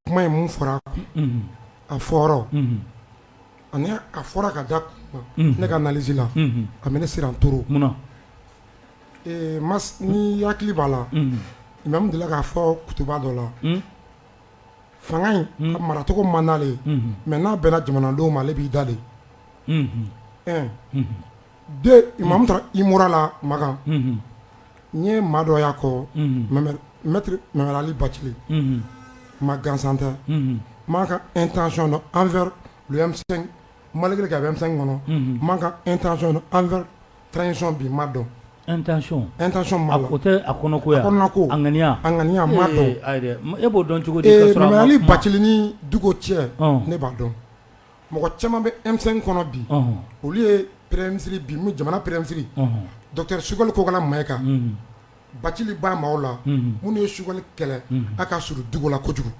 Kuma ye mun fɔra a fɔyɔrɔ ani a fɔra ka da ne ka analyse la a bɛ ne siran trop mais n'i hakili b'a la imamu delila k'a fɔ kutuba dɔ la fanga in ka maracogo man d'ale ye mais n'a bɛnna jamanadenw ma ale b'i da de taara i mura la makan n ye maa dɔ y'a kɔ mɛali baci ma gansan tɛ ma ka e tanson dɔn an fɛ mali kɛ a bɛ fɛn kɔnɔ ma ka e tan sɔn an fɛ tancon bi ma dɔn e e ma o tɛ a ko ko a ŋaniya a ŋaniya ma e b'o dɔn cogo mɛali baciinin dugu cɛ ne b'a dɔn mɔgɔ caman bɛ emisɛn kɔnɔ bi olu ye pɛrɛnmisiri bi jamana pɛrɛnmisiri dɔri sukali kokala ma kan baci ba ma la minnu ye sukali kɛlɛ a ka suru dugu la kojugu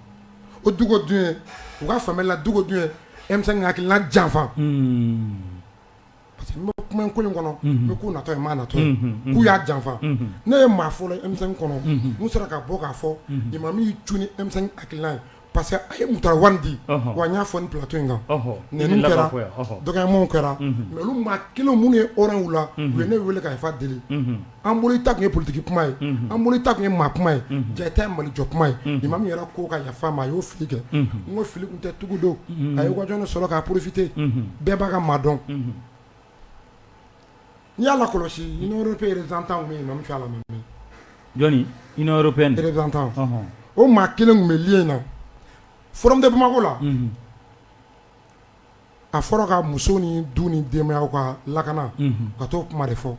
o dugu dun u ka fanla dugu dun emisɛn ka hakilila janfa Parce que n bɛ kuma in ko in kɔnɔ n bɛ ko natɔ ye maa natɔ ye k'u y'a janfa ne ye maa fɔlɔ ye M5 kɔnɔ min sera ka bɔ k'a fɔ imamu y'i cun ni M5 hakilina ye parce que a ye Mutara Wani di wa n y'a fɔ ni plateau in kan nɛniw kɛra dɔgɔyamaw kɛra mais olu maa kelen minnu ye hɔrɔn ye u la u ye ne weele ka yafa deli an bolo ta tun ye politigi kuma ye an bolo ta tun ye maa kuma ye ja tɛ mali jɔ kuma ye i ma min yɛrɛ ko ka yafa ma a y'o fili kɛ n ko fili tun tɛ tugu don a ye waj sɔrɔ k'a porofite bɛɛ b'a ka maa dɔn n yala kɔlɔsi peretan min min fɛ la tan o maa kelen tun bɛ le in na f tɛ bamakɔ la a fɔra ka muso ni du ni denbaya ka lakana ka to kuma de fɔ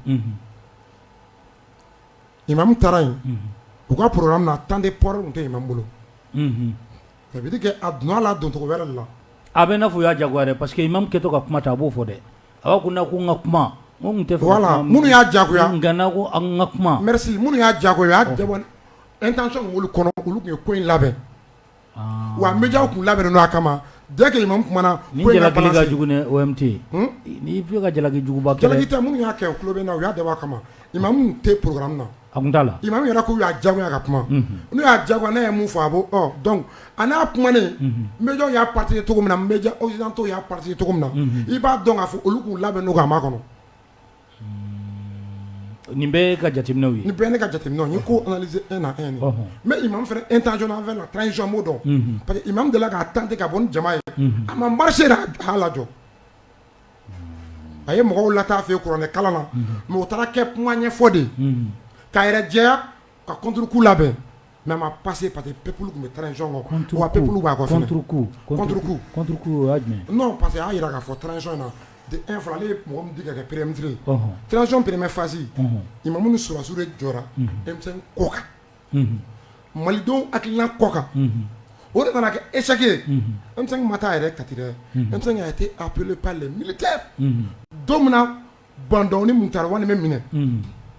imamu taara yen u ka programme na temps de parole tun tɛ imamu bolo ça veut dire que a donna la doncogo wɛrɛ de la a bɛ n'a fɔ u y'a jagoya dɛ parce que imamu kɛtɔ ka kuma ta a b'o fɔ dɛ a' kun ko n ka kuma voilà minnu y'a jagoya an ka kuma merci minnu y'a jagoya u y'a intention min b'olu kɔnɔ olu tun ye ko in labɛn Wa bɛ ja kun labɛn don a kama ja kelen tun ka jalakijugukita minnu y'a kɛ tulo bɛ na u y'a daba kama i ma tɛ pkara na a da la i ma yɛrɛ k'u y'a jagoya ka kuma n'u y'a jago ne ye mun fɔ a bɔ dɔn a n'a kuma ne bɛj y'a pati cogo min na bɛjtɔ y'a pati cogo min na i b'a dɔn k'a fɔ olu k'u labɛn don a ma kɔnɔ Nin bɛɛ ka jateminɛw ye nin bɛɛ ne ka jateminɛ ye ko analyser un à un mais Imam fɛnɛ intention envers la transition n m'o dɔn parce que Imam delila k'a tenter ka bɔ ni jama ye a ma marché a y'a lajɔ a ye mɔgɔw lataa fɛ kuranɛ kalan na mais o taara kɛ kuma ɲɛfɔ de k'a yɛrɛ jɛya ka kungo labɛn mɛ ma pa que pa que pep tun bɛ taa ncɔnɔn kan pep b'a parce que y'a jira k'a fɔ tcɔn na e fana ale mɔgɔ ka kɛ perefitirire tcɔn pereremɛ fasi i ma minnu sɔrɔsiw de jɔra denmisɛnnin kɔ kan malidenw akila kɔ kan o de nana kɛ eseke ma taa yɛrɛ kati dɛ e tɛ aple mili tɛ don min Bah N'Daw ni Moctar Ouane bɛ minɛ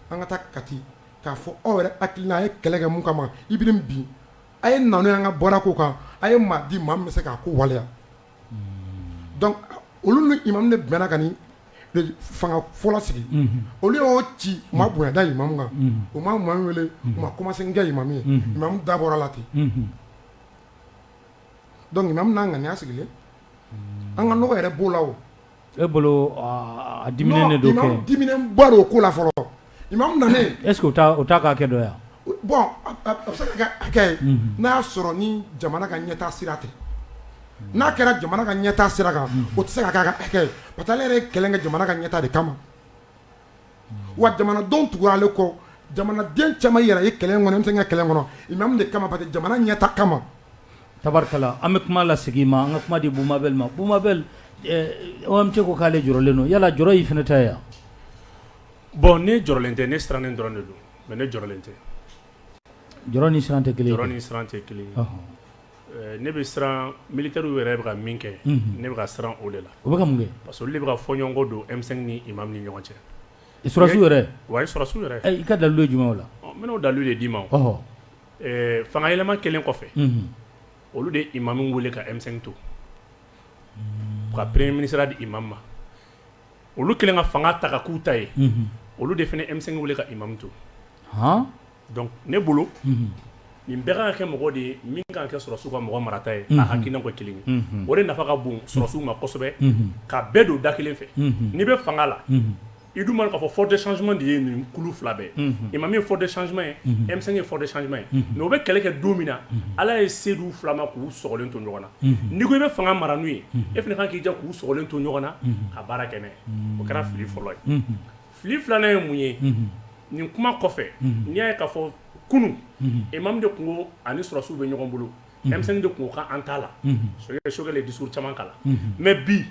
an ka taa Kati k'a fɔ aw yɛrɛ hakilina a ye kɛlɛ kɛ min kama Ibrim bin a ye na n'o ye an ka bɔra ko kan a ye maa di maa min bɛ se k'a ko waleya donc olu ni Imam de bɛnna ka nin fanga fɔlɔ sigi olu y'o ci u ma bonya da Imam kan u ma Imam wele u ma kuma si kɛ Imam ye Imam da bɔra a la ten donc Imam n'a ŋaniya sigilen an ka nɔgɔ yɛrɛ b'o la E bolo di don di o ko la fɔlɔ i ma na e k' k'a kɛ dɔn yan bɔn ye n'a y'a sɔrɔ ni jamana ka ɲɛta sira ten n'a kɛra jamana ka ɲɛta sira kan o tɛ se ka' ka hakɛ pa taa ale yɛrɛ kɛlɛn ka jamana ka ɲɛta de kama wa jamanadenw tugura ale kɔ jamanaden caman yɛrɛ ye kɛlɛ in kɔnɔ M5 ka kɛlɛ in kɔnɔ Imam de kama parce que jamana ɲɛta kama tabarikala an bɛ kuma lasegin ma an ka kuma di Boubou Mabel ma Boubou Mabel OMT ko k'ale jɔrɔlen don yala jɔrɔ y'i fana ta ye wa bon ne jɔrɔlen tɛ ne sirannen dɔrɔn de don mais ne jɔrɔlen tɛ jɔrɔ ni siran tɛ kelen ye jɔrɔ ni siran tɛ kelen Ne bɛ siran militaires yɛrɛ bɛ ka min kɛ ne bɛ ka siran o de la u bɛ ka mun kɛ parce que olu de bɛ ka fɔɲɔgɔnkɔ don M5 ni Imam ni ɲɔgɔn cɛ sɔrɔsiw yɛrɛ wa sɔrɔsiw yɛrɛ i ka dalu ye jumɛn o la n bɛna o dalu de d'i ma fanga yɛlɛma kɛlen kɔfɛ olu de Imam weele ka M5 to ka premier ministreya di Imam ma olu kɛlen ka fanga ta ka k'u ta ye olu de fana M5 weele ka Imam to Donc ne bolo unhun nin bɛɛ kaan ka kɛ mɔgɔ de ye min kaan ka kɛ sɔrɔsiw ka mɔgɔ marata ye unhun a hakilinaw ka kelen ye unhun o de nafa ka bon sɔrɔsiw ma kosɛbɛ unhun ka bɛɛ don da kelen fɛ unhun n'i be faŋa la unhun i dun b'a dɔn k'a fɔ fort de changement de ye nin kulu 2 bɛɛ ye unhun Imam ye fort de changement ye unhun M5 ye fort de changement ye unhun mais u be kɛlɛ kɛ don min na unhun Ala ye se d'u 2 ma k'u sɔgɔlen to ɲɔgɔn na unhun n'i ko i be faŋa mara n'u ye unhun e fɛnɛ kaan k'i jija k'u sɔgɔlen to ɲɔgɔn na unhun ka baara kɛ n'a ye unnn o kɛra fili fɔlɔ ye unhun fili filanan ye mun ye nin kuma kɔfɛ n'i y'a ye k'a fɔ kunun imam de tun ko ani sɔrɔsiw bɛ ɲɔgɔn bolo M5 de tun ko k'an t'a la Choguel ye discours caman k'a la mais bi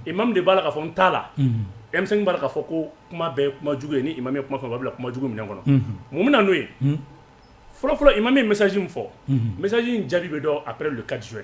imam de b'a la k'a fɔ n t'a la M5 b'a la k'a fɔ ko kuma bɛɛ kuma jugu ye ni imam ye kuma fɔ a b'a bila kuma jugu minɛn kɔnɔ mun bɛ na n'o ye fɔlɔfɔlɔ imam ye message min fɔ message in jaabi bɛ dɔn après le 4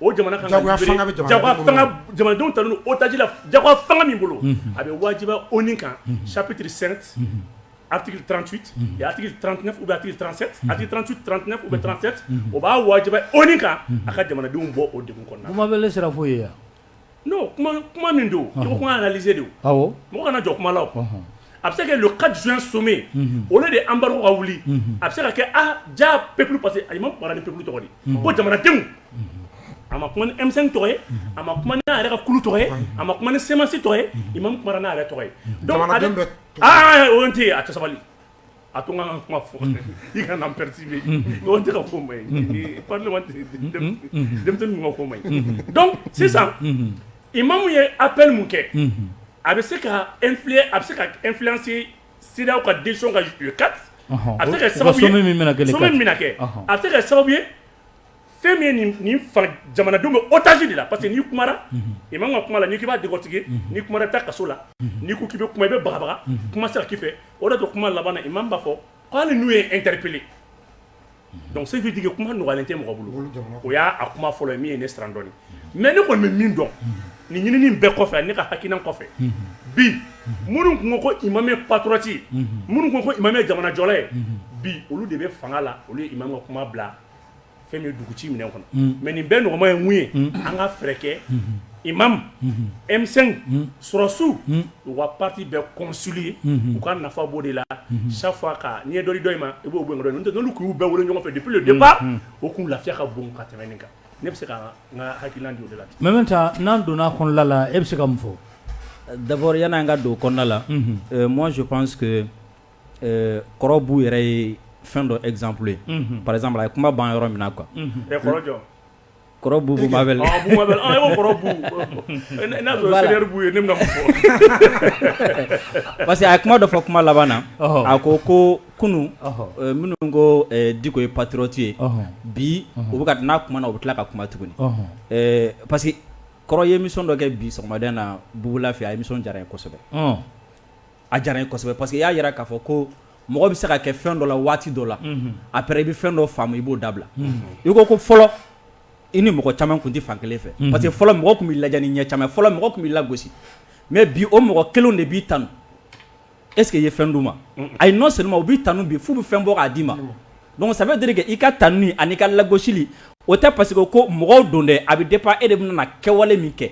O jamana kan ka libere, jagoya fanga bɛ jamana, jagoya fanga jamanadenw talen don otage la jagoya fanga min bolo, unhun, a bɛ wajibiya ONU kan chapitre 7 article 38 et article 39 ou bien article 37, article 38, 39 ou bien 37 o b'a wajibiya ONU kan a ka jamanadenw bɔ o degun kɔnɔna na, kuma bɛɛ ne sera fo yen wa non kuma min don i ko kuma analyser don awɔ mɔgɔ kana jɔ kuma la a bɛ se ka kɛ le 4 juin sommet o la de embargo ka wuli a bɛ se ka kɛ aa ja peuple parce que imam kumara ni peuple tɔgɔ de ko jamanadenw a ma kuma ni M5 tɔgɔ ye a ma kuma n'a yɛrɛ ka kulu tɔgɔ ye a ma kuma ni CMAS tɔgɔ ye imam kumara n'a yɛrɛ tɔgɔ ye o tɛ yen a tɛ sabali A to ka kuma fɔ i ka pɛresi ye tɛ ka ko ma ye pa denmisɛn ka ko ma dɔn sisan i ma mun ye a bɛ mun kɛ a bɛ se ka e a bɛ se ka e filasi siraw ka den ka kati a bɛ se ka sababu min kɛ a bɛ se ka sababu ye fɛn min ye nin fa jamanadenw bɛ otage de la parce que n'i kumara imam ka kuma la n'i k'i b'a décortiquer n'i kumara taa kaso la n'i ko k'i bɛ kuma i bɛ bagabaga kuma sera k'i fɛ o de bɛ kuma laban na imam b'a fɔ ko hali n'u ye n interpeller donc ça veut dire que kuma nɔgɔyalen tɛ mɔgɔ bolo o y'a kuma fɔlɔ ye min ye ne siran dɔɔnin mɛ ne kɔni bɛ min dɔn nin ɲinini bɛɛ kɔfɛ ne ka hakilina kɔfɛ bi minnu tun ko ko imam ye patriote ye minnu tun ko imam ye jamanajɔla ye bi olu de bɛ fanga la olu ye imam ka kuma bila fɛn bɛ dugu ci minɛn kɔnɔ mɛ nin bɛɛ nɔgɔma ye mun ye an ka fɛɛrɛkɛ i mamu emisɛn sɔrɔsiw u ka pati bɛ kɔsiri ye u ka nafa bɔ de la safa ka ɲɛ dɔ dɔ in ma i b'o n k'u bɛɛ wolo ɲɔgɔnfɛ de pe deba u k'u lafiya ka bon ka tɛmɛn kan ne bɛ se ka n ka haki la mɛ bɛ taa n'an donna kɔnɔla la e bɛ se ka mun fɔ dabɔya n'an ka don kɔnɔnada la mɔnsi pan ɛɛ kɔrɔ Bou yɛrɛ ye fɛn dɔ exemple ye, unhun, par exemple a ye kuma ban yɔrɔ min na quoi unhun, ɛ kɔrɔ jɔn? kɔrɔ Boubou Mabel, ɔ Bou Mabel ɔ e ko kɔrɔ Bou, n'a y'a sɔrɔ senior Bou ye ne bɛna mun fɔ? parce que a ye kuma dɔ fɔ kuma laban na, ɔhɔ, a ko ko kunun, ɔhɔ, minnu ko Diko ye patriote ye, ɔhɔ, bi u bɛ ka n'a kumana u bɛ tila ka kuma tuguni, ɔhɔn, ɛɛ parce que kɔrɔ ye émission dɔ kɛ bi sɔgɔmada in na Boubou Lah fɛ a émission diyara n ye kosɛbɛ, ɔn a diyara n ye kosɛbɛ parce que i y'a jira k'a fɔ ko mɔgɔ bɛ se ka kɛ fɛn dɔ la waati dɔ la après i bɛ fɛn dɔ faamu i b'o dabila i ko ko fɔlɔ i ni mɔgɔ caman tun tɛ fan kelen fɛ parce que fɔlɔ mɔgɔ tun b'i lajɛ ni ɲɛ caman ye fɔlɔ mɔgɔ tun b'i lagosi mais bi o mɔgɔ kelenw de b'i tanu est ce que i ye fɛn d'u ma ayi non seulement u b'i tanu bi f'u bɛ fɛn bɔ k'a d'i ma. Donc ça veut dire que i ka tanu ani i ka lagosili o tɛ parce que ko mɔgɔw don dɛ a bɛ dépend e de bɛna na kɛwale min kɛ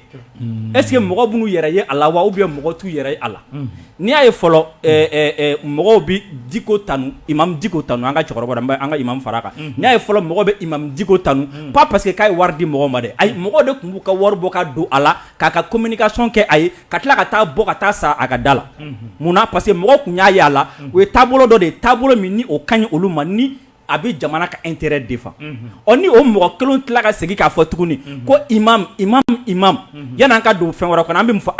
est ce que mɔgɔ b'u yɛrɛ ye a la wa ou bien mɔgɔ t'u yɛrɛ ye a la n'i y'a ye fɔlɔ mɔgɔw bɛ diko tanu imam diko tanu an ka cɛkɔrɔba an ka imam fara kan n'i y'a ye fɔlɔ mɔgɔ bɛ imam diko tanu pas parce que k'a ye wari di mɔgɔ ma dɛ ayi mɔgɔ de tun b'u ka wari bɔ ka don a la k'a ka communication kɛ a ye ka tila ka taa bɔ ka taa sa a ka da la munna parce que mɔgɔ tun y'a ye a la o ye taabolo dɔ de ye taabolo min ni o ka ɲi olu ma ni a bɛ jamana ka intérêt défendre ni o mɔgɔ kelen tila ka segin k'a fɔ tuguni ko imam imam imam yan'an ka don fɛn wɛrɛ kɔnɔ an bɛ mun fɔ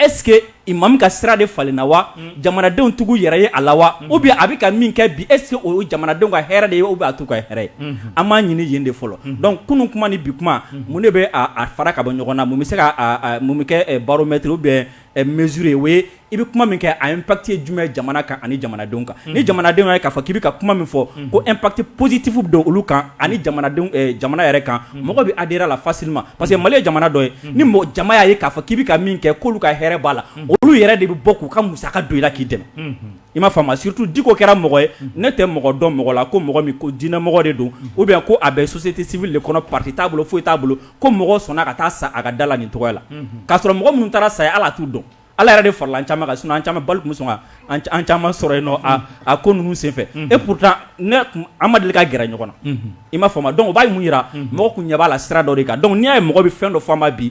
est ce que imam ka sira de falenna wa jamanadenw tɛ k'u yɛrɛ ye a la wa ou bien a bɛ ka min kɛ bi est ce que o jamanadenw ka hɛrɛ de ye ou bien a t'u ka hɛrɛ ye an b'a ɲini yen de fɔlɔ donc kunun kuma ni bi kuma mun de bɛ a fara ka bɔ ɲɔgɔn na mun bɛ se ka kɛ baromètre ou bien mesure ye o ye i bɛ kuma min kɛ a impact ye jumɛn jamana kan ani jamanadenw kan ni jamanadenw ye k'a fɔ k'i bɛ ka kuma min fɔ ko impact positif don olu kan ani jamana yɛrɛ kan mɔgɔ bɛ adhérer a la facilement parce que mali ye jamana dɔ ye ni jama y'a ye k'a fɔ k'i bɛ ka min kɛ k'olu ka hɛrɛ b'a la olu yɛrɛ de bɛ bɔ k'u ka musaka don i la k'i dɛmɛ i m'a faamu surtout diko kɛra mɔgɔ ye ne tɛ mɔgɔ dɔn mɔgɔ la ko mɔgɔ min ko diinɛmɔgɔ de don ou bien ko a bɛ société civile de kɔnɔ parti t'a bolo foyi t'a bolo ko mɔgɔ sɔnna ka taa sa a ka da la nin tɔgɔ la k'a sɔrɔ mɔgɔ minnu taara sa a ye ale t'u dɔn ala yɛrɛ de farala an caman kan sinon an caman balle tun bɛ sɔn an caman sɔrɔ yen nɔ a ko ninnu senfɛ et pourtant an ma deli ka gɛrɛ ɲɔgɔn na i m'a faamu donc o b'a mun jira mɔgɔ tun ɲɛ b'a la sira dɔ de kan donc n'i y'a ye mɔgɔ bɛ fɛn dɔ fɔ a ma bi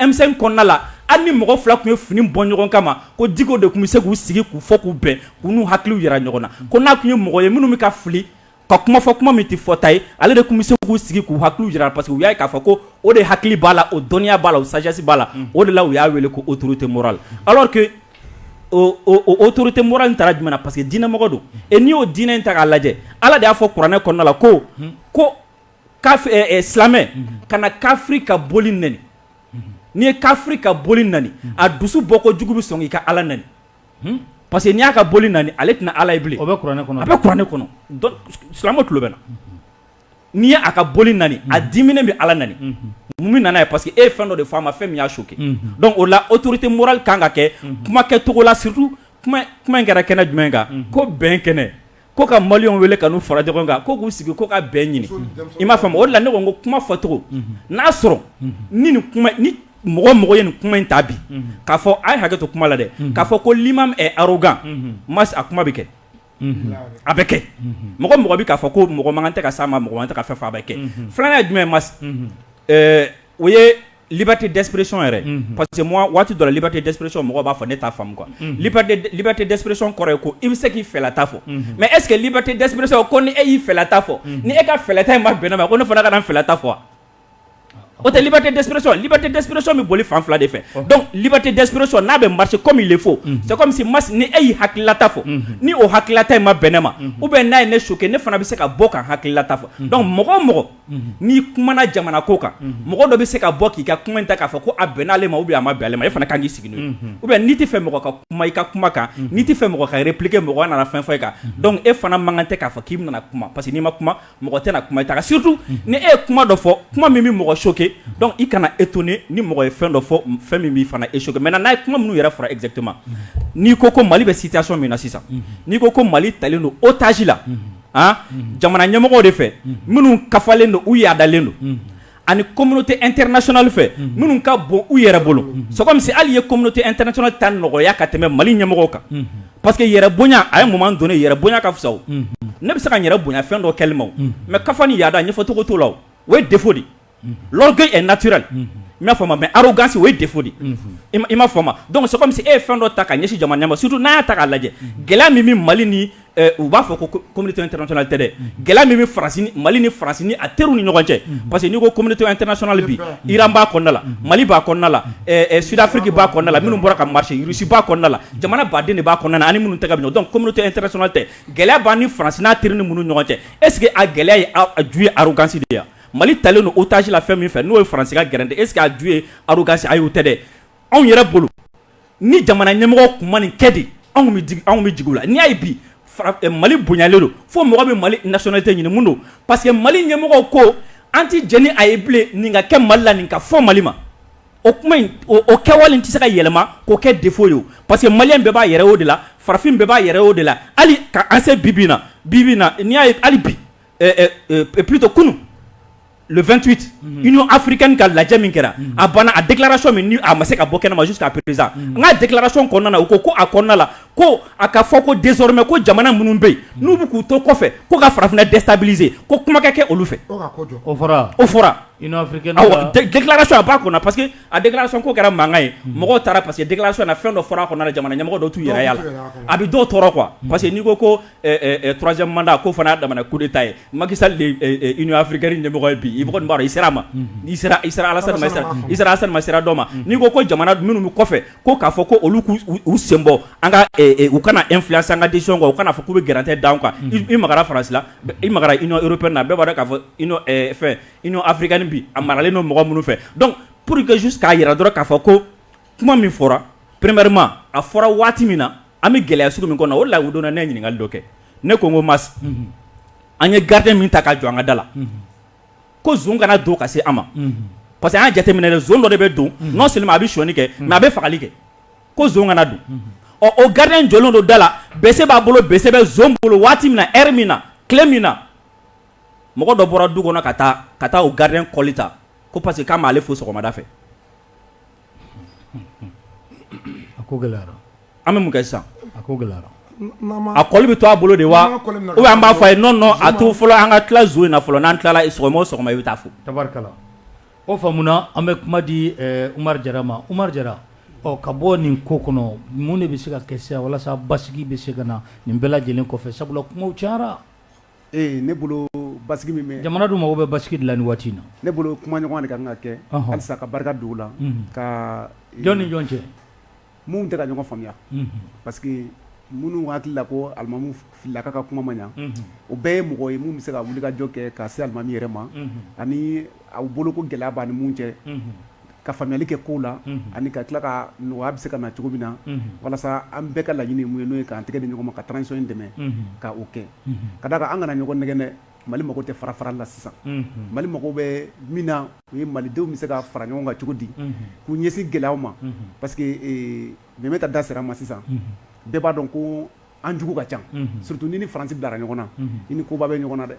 M5 kɔnɔna la hali ni mɔgɔ fila tun ye fini bɔ ɲɔgɔn kama ko diko de tun bɛ se k'u sigi k'u fɔ k'u bɛn k'u n'u hakiliw jira ɲɔgɔn na ko n'a tun ye mɔgɔ ye minnu bɛ ka fili ka kuma fɔ kuma min tɛ fɔta ye ale de tun bɛ se k'u sigi k'u hakiliw jira parce que u y'a ye k'a fɔ ko o de hakili b'a la o dɔnniya b'a la o sagesse b'a la o de la u y'a wele ko autorité morale alors que o autorité morale in taara jumɛn na parce que diinɛmɔgɔ don et n'i y'o diinɛ in ta k'a lajɛ ala de y'a fɔ kuranɛ kɔnɔna la ko ko silamɛ kana kafiri ka boli nɛni n'i ye kafiri ka boli nɛni a dusu bɔ kojugu bɛ sɔn k'i ka ala nɛni parce que n'i y'a ka boli nɛni ale tɛna ala ye bilen o bɛ kuranɛ kɔnɔ a bɛ kuranɛ kɔnɔ silamɛ tulo bɛ n na n'i ye a ka boli nɛni a diminen bɛ ala nɛni mun bɛ na n'a ye parce que e ye fɛn dɔ de fɔ a ma fɛn min y'a choqué donc o la autorité morale kan ka kɛ kuma kɛcogo la surtout kuma in kɛra kɛnɛ jumɛn kan ko bɛn kɛnɛ Ko ka maliyɛnw wele ka n'u fara ɲɔgɔn kan ko k'u sigi ko ka bɛn ɲini i m'a faamu o de la ne ko n ko kuma fɔcogo n'a sɔrɔ ni mɔgɔ mɔgɔ ye nin kuma in ta bi k'a fɔ a ye hakɛ to kuma la dɛ k'a fɔ ko l'imam est arrogant Max a kuma bɛ kɛ a bɛ kɛ mɔgɔ mɔgɔ bɛ k'a fɔ ko mɔgɔ man kan tɛ ka s'a ma mɔgɔ man kan tɛ ka fɛn fɔ a bɛ kɛ filanan ye jumɛn Max o ye Liberté d'expression yɛrɛ, unhun, parce que moi waati dɔ la liberté d'expression mɔgɔw b'a fɔ ne t'a faamu quoi, unhun, liberté d'expression kɔrɔ ye ko i bɛ se k'i fɛlata fɔ, unhun, mais est ce que liberté d'expression ko ni e y'i fɛlata fɔ, unhun, ni e ka fɛlata in ma bɛn ne ma ko ne fana kana n fɛlata fɔ wa? O tɛ liberté d'expression ye, liberté d'expression bɛ boli fan fila de fɛ donc liberté d'expression n'a bɛ marcher comme il le faut c'est comme si Max ni e y'i hakililata fɔ, unhun, ni o hakililata in ma bɛn ne ma ou bien n'a ye ne choquer ne fana bɛ se ka bɔ ka n hakililata fɔ donc mɔgɔ o mɔgɔ n'i kumana jamana ko kan mɔgɔ dɔ bɛ se ka bɔ k'i ka kuma in ta k'a fɔ ko a bɛnn'ale ma ou bien a ma bɛn ale ma e fana ka kan k'i sigi n'o ye ou bien n'i tɛ fɛ mɔgɔ ka kuma i ka kuma kan n'i tɛ fɛ mɔgɔ ka répliquer mɔgɔ nana fɛn fɔ e kan donc e fana man kan tɛ k'a fɔ k'i bɛna na kuma parce que n'i ma kuma mɔgɔ tɛna kuma i ta kan surtout ni e ye kuma dɔ fɔ kuma min bɛ mɔgɔ choquer donc i kana étonner ni mɔgɔ ye fɛn dɔ fɔ fɛn min b'i fana e choquer maintenant n'a ye kuma minnu yɛrɛ fɔra exactement n'i ko ko Mali bɛ situation min na sisan n'i ko ko Mali talen don otage la jamana ɲɛmɔgɔw de fɛ minnu kafalen don u yaadalen don ani communauté internationale fɛ minnu ka bon u yɛrɛ bolo c'est comme si hali ye communauté internationale ta nɔgɔya ka tɛmɛ mali ɲɛmɔgɔw kan parce que yɛrɛ bonya a ye moment donné yɛrɛ bonya ka fisa o ne bɛ se ka yɛrɛ bonya fɛn dɔ kɛli ma o mais kafa ni yaada ɲɛfɔcogo t'o la o ye défaut de natura i'a fɔ ma mɛ gansi o ye de fɔ de i ma fɔ ma don so e ye fɛn dɔ ta ka ɲɛsin jamana ma sutu n'a ta' lajɛ gɛlɛya min bɛ mali ni u b'a fɔ ko tɛtɔli tɛ dɛ gɛlɛya min bɛ mali ni farasi a teri ni ɲɔgɔn cɛ parce que n'i ko comte tɛsonali bi iran' kɔnɔnadala mali b'a kɔnɔnadala sudafiki b'a kɔnɔnadala minnu bɔra ka masisiba kɔnɔnadala jamana baden de b'a kɔnɔna ani minnu ta bɛ dɔn comte tɛsona tɛ gɛlɛya' ni farasi n'a teri ni minnu ɲɔgɔn cɛ eseke a gɛlɛya ye ju ye gansidenya yan Mali talen don otage la fɛn min fɛ n'o ye Faransi ka gɛrɛntɛ est ce que a ju ye arrogance ayi o tɛ dɛ anw yɛrɛ bolo ni jamana ɲɛmɔgɔ tun ma nin kɛ dɛ anw anw bɛ jigin u la n'i y'a ye bi mali bonyalen don fo mɔgɔ bɛ mali nationalité ɲini mun don parce que mali ɲɛmɔgɔw ko an tɛ jɛn ni a ye bilen nin ka kɛ mali la nin ka fɔ mali ma o kuma o kɛwale tɛ se ka yɛlɛma k'o kɛ défaut ye parce que maliyɛn bɛɛ b'a yɛrɛ o de la farafin bɛɛ b'a yɛrɛ o de la hali ka an se bibi na bi na n'i y'a ye hali bi plutôt kunun le vingt-huit Union africaine ka lajɛ min kɛra a banna a déclaration min a ma se ka bɔ kɛnɛ ma jusqu'à présent nka déclaration kɔnɔna u ko ko a kɔnɔna la ko a ka fɔ ko désormais ko jamana minnu bɛ yen n'u bɛ k'u to kɔfɛ ko ka farafinna déstabiliser ko kuma ka kɛ olu fɛ o fɔra déclaration a b'a kɔnɔ parce que a déclaration ko kɛra mankan ye mɔgɔw taara parce que déclaration na fɛn dɔ fɔra a kɔnɔ jamana ɲɛmɔgɔ dɔw t'u yɛrɛ ye a la a bɛ dɔw tɔɔrɔ quoi parce que n'i ko turasɛmanda ko fana da ko ta ye makisafiri ɲɛmɔgɔ bi i b'a i sera a ma alama sira dɔ ma n'i ko ko jamana minnu kɔfɛ ko k'a fɔ ko olu u senbɔ an ka u kana e fila san ka di kɔ u kana fɔ k'u bɛ garantɛ da kan i ma farasi i ma i yɔrɔ na bɛɛ b'a k'a fɔ fɛfiri bi a maralen don mɔgɔ minnu fɛ dɔn pur quesisu k'a jira dɔrɔn k'a fɔ ko kuma min fɔra premièrement a fɔra waati min na an bɛ gɛlɛya sugu min kɔnɔ o ladonna ne ye ɲininkali dɔ kɛ ne ko n ko mais an ye gardien min ta ka jɔ an ka da la ko zon kana don ka se an ma parce que an y'a jateminɛ dɛ zon dɔ de bɛ don non seulement a bɛ sonyani kɛ mais a bɛ fagali kɛ ko zon kana don ɔ o gardien in jɔlen don da la bese b'a bolo bese bɛ zon bolo waati min na e min na tile min na mɔgɔ dɔ bɔra du kɔnɔ ka taa ka taa o gardien kɔli ta ko parce que k'a m'ale fo sɔgɔmada fɛ A ko gɛlɛyara an bɛ mun kɛ sisan a ko gɛlɛyara a kɔli bɛ to a bolo de wa ou bien an b'a fɔ a ye non non a to fɔlɔ an ka tila zon in na fɔlɔ n'an tilala sɔgɔma o sɔgɔma i bɛ taa fo tabarikala o faamuna an bɛ kuma di ɛɛ Umaru Jara ma Umaru Jara ɔ ka bɔ nin ko kɔnɔ mun de bɛ se ka kɛ sisan walasa basigi bɛ se ka na nin bɛɛ lajɛlen kɔfɛ sabula kumaw cayara Ee ne bolo basigi min bɛ jamana dun mago bɛ basigi de la nin waati in na ne bolo kumaɲɔgɔnya de ka kan ka kɛ halisa ka barika don o la ka jɔn ni jɔn cɛ minnu tɛ ka ɲɔgɔn faamuya parce que minnu hakili la ko alimamu filila k'a ka kuma ma ɲa o bɛɛ ye mɔgɔ ye minnu bɛ se ka wuli ka jɔ kɛ ka se alimami yɛrɛ ma ani aw bolo ko gɛlɛya b'a ni minnu cɛ ka faamuyali kɛ kow la ani ka tila ka nɔgɔya bɛ se ka na cogo min na walasa an bɛɛ ka laɲini min ye n'o ye k'an tɛgɛ di ɲɔgɔn ma ka transition in dɛmɛ ka o kɛ ka d'a kan an kana ɲɔgɔn nɛgɛn dɛ Mali mago tɛ farafarali la sisan Mali mago bɛ min na o ye Malidenw bɛ se ka fara ɲɔgɔn kan cogo di k'u ɲɛsin gɛlɛyaw ma parce que Mɛmɛ ka da sera a ma sisan bɛɛ b'a dɔn ko an jugu ka ca surtout n'i ni Faransi bilara ɲɔgɔn na i ni koba bɛ ɲɔgɔn na dɛ.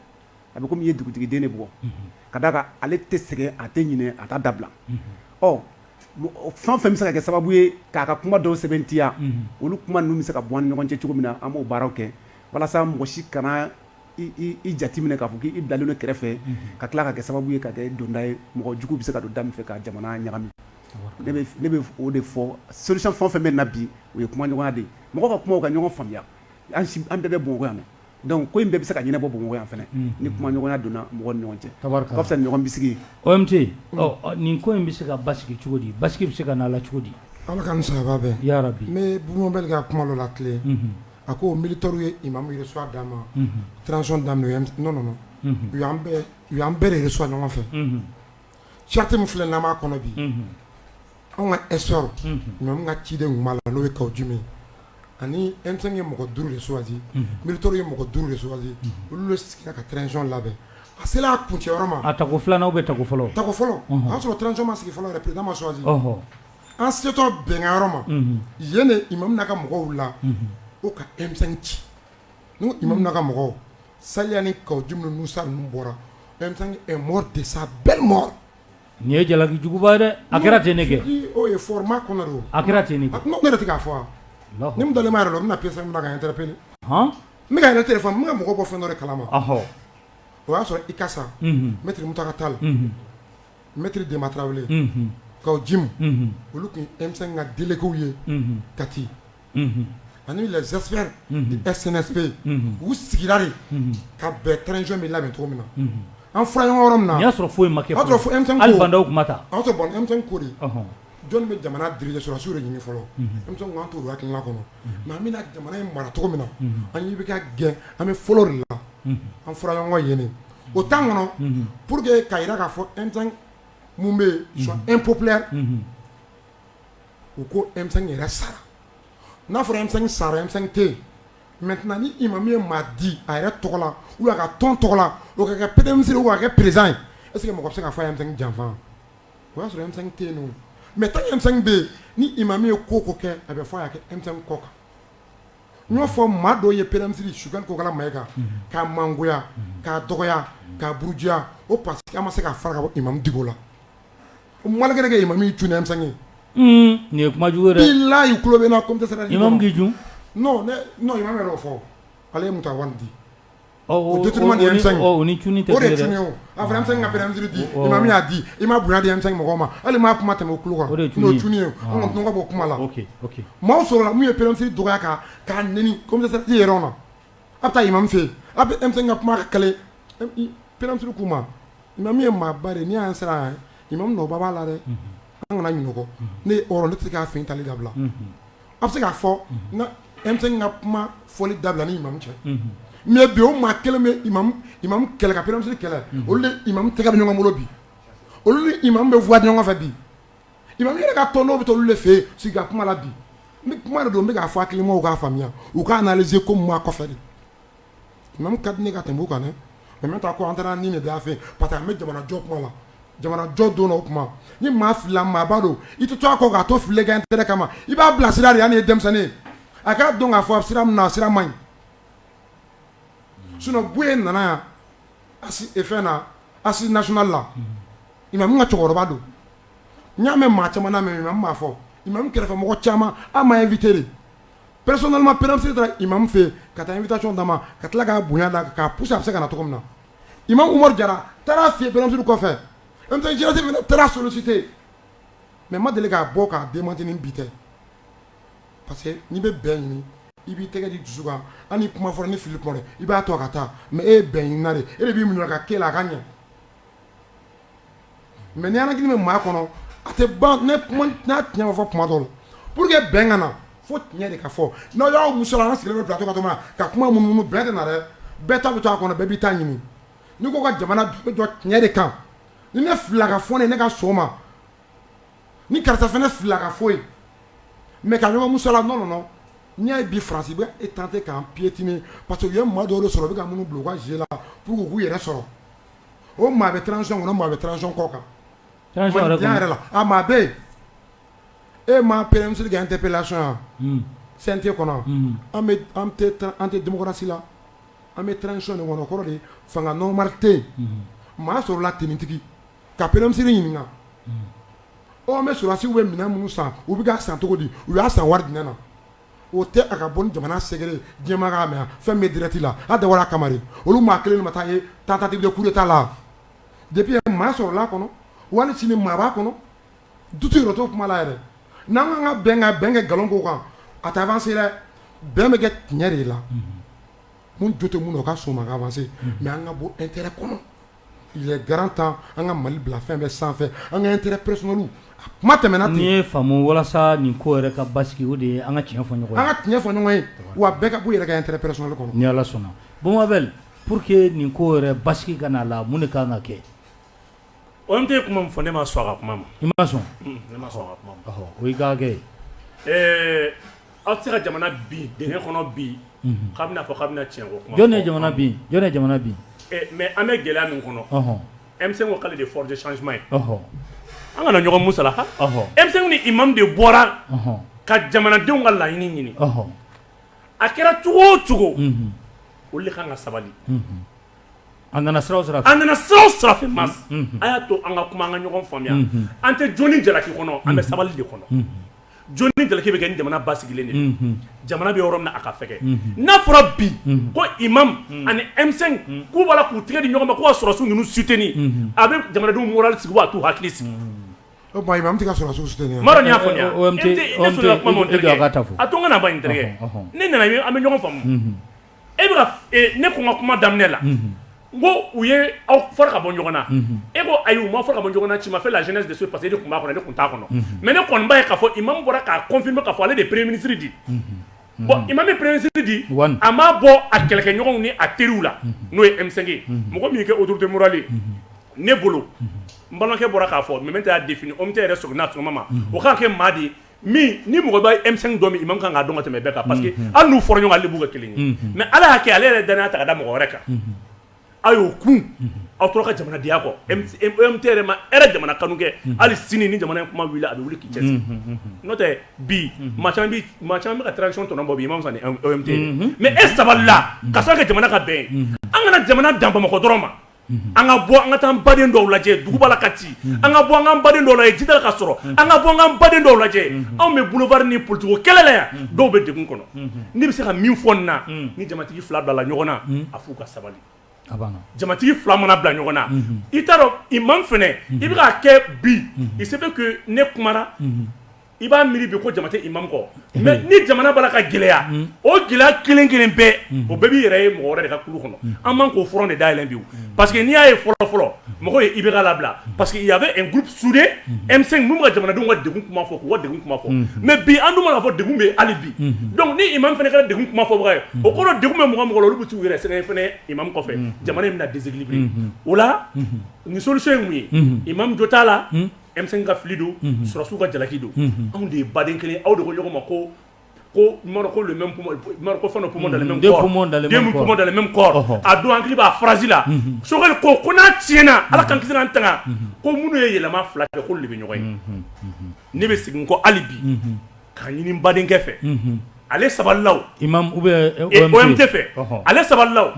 a bɛ komi i ye dugutigiden de bugɔ, unhun, ka d'a kan ale tɛ sɛgɛn a tɛ ɲinɛ a t'a dabila, unhun, ɔ fɛn o fɛn bɛ se ka kɛ sababu ye k'a ka kuma dɔw sɛbɛntiya, unhun, olu kuma ninnu bɛ se ka bɔ an ni ɲɔgɔn cɛ cogo min na an b'o baaraw kɛ walasa mɔgɔ si kana i jate minɛ k'a fɔ k'i bilalen don kɛrɛfɛ, unhun, ka tila ka kɛ sababu ye ka kɛ donda ye mɔgɔ jugu bɛ se ka don da min fɛ ka jamana ɲagami, ne bɛ o de fɔ solution fɛn o fɛn bɛ nin na bi o ye kumaɲɔgɔnya de ye mɔgɔw ka kuma u ka ɲɔgɔn faamuya an bɛɛ bɛ Bamakɔ yan Donc ko in bɛɛ bɛ se ka ɲɛnabɔ Bamakɔ yan fana ni kumaɲɔgɔnya donna mɔgɔw ni ɲɔgɔn cɛ, tabarikala, o ka fisa ni ɲɔgɔn bisigi ye, OMT, ɔ nin ko in bɛ se ka basigi cogo di, basigi bɛ se ka na a la cogo di? Ala k'an ni sababa bɛn, yarabi, n bɛ Bubu Mabɛli ka kuma dɔ latilen, unhun, a ko militaires ye imamu reçoit dama, unhun, transition daminɛ non non u y'an bɛɛ de reçoit ɲɔgɔn fɛ, unhun, charte min filɛ n'an b'a kɔnɔ bi, unhun Anw ka esw n ka ciden tun' la n'o ye ka jumɛn ye ani e ye mɔgɔ duuru de swasi bitɔ ye mɔgɔ duuru de swasi olu sigi ka tzɔn labɛn a selen y'a kun cɛ ma a tako filanan' bɛ ta fɔlɔ ta fɔlɔ y'a sɔrɔ tzsɔnma sigi fɔlɔ pdma swasi an setɔ bɛnkanyɔrɔ ma yen de i ma ka mɔgɔw la o ka e ci n i ma ka mɔgɔw sa ni ka jumɛn sa bɔra mɔ de sa bɛɛ mɔ Nin ye jalakijuguba ye dɛ a kɛra ten ne kɛ a kɛra ten ne k'a fɔ ni dalen yɛrɛ la n bɛna p min kan n tɛ pewu n bɛka yɛrɛ tɛ fɔ n bɛna mɔgɔ bɔ fɛn dɔ kalama o y'a sɔrɔ i ka sa n bɛ ta ka taa la n bɛtiri den tarawele ka ji olu tun e ka delieliliw ye kati ani les experts du CNSP u sigira de ka bɛn transition bɛ labɛn cogo min na an fɔra ɲɔgɔn yɔrɔ min na y'a sɔrɔ foyi ma kɛ o y'a sɔrɔ M5 ko de jɔn bɛ jamana diriger sɔrɔdasiw de ɲini fɔlɔ M5 ko an t'o hakilina kɔnɔ mais an bɛna jamana in mara cogo min na an ɲɛ bɛ ka gɛn an bɛ fɔlɔ de la an fɔra ɲɔgɔn yen o temps kɔnɔ pour que ka jira k'a fɔ M5 min bɛ yen soit impopulaire u ko e yɛrɛ sara n'a fɔra e sara e tɛ mɛ ni i ma min ye maa di a yɛrɛ tɔgɔ la u ka tɔn tɔgɔ la o kɛ kɛ pɛsiri waa kɛ perez ye e sigi mɔgɔ bɛ se ka fɔ e janfa o y'a sɔrɔ e tɛ yen mɛ tan e bɛ yen ni i ma min ye ko ko kɛ a bɛ fɔ y'a kɛ e kɔ kan n y'a fɔ maa dɔw ye pɛrɛn su kokala ma e kan k'a mangoya k'a dɔgɔya k'abuja o pa ma se ka fara i ma la Mkɛ ma min jsan ye nin ye kuma jugu layi ku bɛ na ko tɛ sera jun fɔ ale ye mu di a fana se ka bɛn di ma min y'a di i ma bonya di anmi mɔgɔ ma hali maa kuma tɛmɛ kulu kan ye tɔgɔ bɔ kuma la maaw sɔrɔ min ye pɛrɛn dɔgɔya kan k'a n i yɛrɛ na a taa i ma fɛ a bɛ e ka kuma ka p k'u ma Imamu ye maaba de ni an sera yan imamu nɔba b'a la dɛ an kana ɲɔgɔn ne ye hɔrɔn ne tɛ se k'a fɛ taali dabila a bɛ se k'a fɔ n ka M5 ka kuma fɔli dabila ni imamu cɛ mais bi o maa kelen bɛ imamu kɛlɛ ka premier ministre kɛlɛ olu ni imamu tɛgɛ bɛ ɲɔgɔn bolo bi olu ni imamu bɛ fwa ɲɔgɔn fɛ bi imamu yɛrɛ ka tɔn dɔw bɛ taa olu de fɛ yen sigi ka kuma la bi kuma de don n bɛ k'a fɔ hakilimaw k'a faamuya u k'a analyser ko mun b'a kɔfɛ de Imam ka di ne ka tɛmɛ kan dɛ mais maintenant ko an taara ni de da fɛ parce que an bɛ jamanajɔ kuma la jamanajɔ don o kuma ni maa filila maaba don i tɛ to a kɔ k'a to fili kɛ intérêt kama i b'a bilasira de yan ye denmisɛnnin ye a k'a dɔn k'a fɔ a sira min na sira man ɲi sinon Buye nana yan a e fɛn na Assise nationale la imam ka cɛkɔrɔba don n y'a mɛn maa caman na imam m'a fɔ imam kɛrɛfɛmɔgɔ caman an m'a inviter Psɔnɔnlima pɛresi taara i ma min fɛ ka taa i bɛ taaɔn da ma ka tila k'a bonya la ka p a bɛ se ka na cogo min na i ma umaru jara taara fɛ bɛsiri kɔfɛ jate taara sosite mɛ ma deli k'a bɔ k'a den mant bi tɛ parce que n'i bɛ bɛn ɲini i b'i tɛgɛ di dusu kan an kuma fɔra ni fili i b'a to a ka taa mɛ e bɛn ɲiniina e b'i minɛ ka ke la a ka ɲɛ Mais ni ala hakili bɛ maa kɔnɔ a tɛ tiɲɛ fɔ kuma dɔ la pour que bɛn ka na fo tiɲɛ de ka fɔ n'an y'a musala an sigilen plateau kan ka kuma munumunu bɛn tɛ na dɛ bɛɛ ta bɛ to a kɔnɔ bɛɛ b'i ta ɲini nin ko kan jamana dun bɛ jɔ tiɲɛ de kan ni ne filila k'a fɔ ne ka sɔn a ma ni karisa fana filila k'a fɔ mais ka ɲɔgɔn musala non n'i y'a ye bi France bɛ tenter k'an piétiner parce que u ye maa dɔw sɔrɔ u bɛ ka minnu bila u ka jeu la k'u yɛrɛ sɔrɔ o maa bɛ transition kɔnɔ o maa bɛ transition kɔ kan, transition yɛrɛ kɔnɔ, mandiya yɛrɛ la a maa bɛ yen e ma premier ministre ka interpellation ye CNT kɔnɔ an tɛ démocratie la an bɛ transition de kɔnɔ o kɔrɔ de ye fanga normal tɛ yen maa sɔrɔla tenitigi ka premier ministre ɲininka ɔ an bɛ sɔrɔdasiw bɛ minɛn minnu san u bɛ k'a san cogo di u y'a san wari jumɛn na o tɛ a ka bɔ ni jamana secret diɲɛ maa k'a mɛn fɛn bɛ direct la a dabɔra a kama de olu maa kelen ma taa ye tentative de coup d'état la depuis maa sɔrɔla a kɔnɔ wali sini maa b'a kɔnɔ doute yɛrɛ t'o kuma la yɛrɛ n'an kan ka bɛn ka bɛn kɛ nkalon ko kan a tɛ avancer dɛ bɛn bɛ kɛ tiɲɛ de la mun jo tɛ mun na o ka sɔn a ma ka avancer mais an ka bɔ intérêt kɔnɔ grand temps an ka Mali bila fɛn bɛɛ sanfɛ an ka intérêt personnel kuma tɛmɛna n'i y'a faamu walasa nin ko yɛrɛ ka basigi o de ye an ka tiɲɛ fɔ an ka tiɲɛ fɔ ɲɔgɔn ye wa bɛɛ ka bɔ i yɛrɛ ka intérêt personnel kɔnɔ ni ala sɔnna bon Abel pour que nin ko yɛrɛ basigi ka na a la mun de ka kan ka kɛ o tɛ kuma min fɔ ne ma sɔn a ka kuma ma i ma sɔn o ka kɛ Aw tɛ se ka jamana bin dingɛ kɔnɔ bi k'a bɛna fɔ k'a bɛna cɛn ko kuma jɔn ye jamana bin jɔn ye jamana bin mais an bɛ gɛlɛya min kɔnɔ M5 ko k'ale de force de changement ye an kana ɲɔgɔn musala M5 ni imam de bɔra ka jamanadenw ka laɲini ɲini a kɛra cogo o cogo olu de ka kan ka sabali An nana sira o sira fɛ an nana sira o sira fɛ Mass a y'a to an ka kuma an ka ɲɔgɔn faamuya an tɛ jo ni jalaki kɔnɔ an bɛ sabali de kɔnɔ jo ni jalaki bɛ kɛ ni jamana basigilen de jamana bɛ yɔrɔ min na a ka fɛgɛn n'a fɔra bi ko imam ani M5 k'u b'a la k'u tigɛ di ɲɔgɔn ma ko ka sɔrɔdasiw ninnu soutenir a bɛ jamanadenw moral sigi a t'u hakili sigi y'a fɔ a to n ka ban n terikɛ ne nana an bɛ ɲɔgɔn faamu e bɛ ka ne kɔn ka kuma daminɛ la n ko u ye aw fara ka bɔ ɲɔgɔn na e ko ayi u ma fara ka bɔ ɲɔgɔn na tu m'as fait la genèse de ce parce que e de tun b'a kɔnɔ ne tun t'a kɔnɔ mais ne kɔni b'a ye k'a fɔ imam bɔra k'a confirmer k'a fɔ ale de ye premier ministre di bon imam ye premier ministre di a m'a bɔ a kɛlɛkɛɲɔgɔnw ni a teriw la n'o ye M5 mɔgɔ min kɛ autorité morale ne bolo n balimakɛ bɔra k'a fɔ maintenant a y'a défini OMT yɛrɛ sɔnna sɔgɔma ma o k'a kɛ maa di min ni mɔgɔ bɛ M5 dɔn min imam ka kan k'a dɔn ka tɛmɛ bɛɛ kan parce que hali n'u fɔra ɲɔgɔn kɔ ale b'u kɛ kelen ye, unhun, mais Ala y'a kɛ ale yɛrɛ ye danaya ta ka da mɔgɔ wɛrɛ kan, unhun, a y'o kun aw tora ka jamanadenya kɛ OMT yɛrɛ imam yɛrɛ jamana kanu kɛ hali sini ni jamana in kuma wulila a bɛ wuli k'i cɛsiri, unhun, n'o tɛ bi maa caman bɛ maa caman bɛ ka transition tɔnɔ bɔ bi imam sani OMT, unhun, mais e sabalila k'a sababu kɛ jamana ka bɛn ye, unhun, an kana jamana dan Bamakɔ dɔrɔn ma an ka bɔ an ka taa baden dɔw lajɛ duguba la Kati an ka bɔ an ka baden dɔw lajɛ jida la ka sɔrɔ an ka bɔ an ka baden dɔw lajɛ anw bɛ boulevard ni politique kɛlɛ la yan dɔw bɛ degun kɔnɔ n bɛ se ka min fɔ nin na ni jamatigi fila bilala ɲɔgɔn na a f'u ka sabali jamatigi fila mana bila ɲɔgɔn na i t'a dɔn imam fɛnɛ i bɛ k'a kɛ bi il se fait que ne kuma i b'a miiri bi ko jama tɛ imam kɔ mais ni jamana b'a la ka gɛlɛya o gɛlɛya kelen kelen bɛɛ o bɛɛ b'i yɛrɛ ye mɔgɔ wɛrɛ de ka kulu kɔnɔ an man k'o front de dayɛlɛ bi o parce que n'i y'a ye fɔlɔ fɔlɔ mɔgɔw ye IBK labila parce que il y avait un groupe soudé M5 minnu bɛ ka jamanadenw ka degun kuma fɔ k'u ka degun kuma fɔ mais bi an dun b'a dɔn k'a fɔ degun bɛ ye hali bi donc ni imam fana kɛra degun kuma fɔbaga ye o kɔrɔ degun bɛ mɔgɔ o mɔgɔ la olu bɛ t'u yɛrɛ sɛgɛn fana imam kɔfɛ jamana in bɛna déséquilibrer o la nin solution ye mun ye imam jo t'a la. emisɛn ka fili don susiw ka jalaki don anw de ye baden kelen aw de ko ɲɔgɔn ma ko ko kɔ a don hakili b'a farasila sokɛ ko ko n'a tiɲɛna ala ka ki an ta ko minnu ye yɛlɛma fila kɛ ko de bɛ ɲɔgɔn ye ne bɛ segin ko hali bi ka ɲini badenkɛ fɛ ale sabalila i ma tɛ fɛ ale sabalila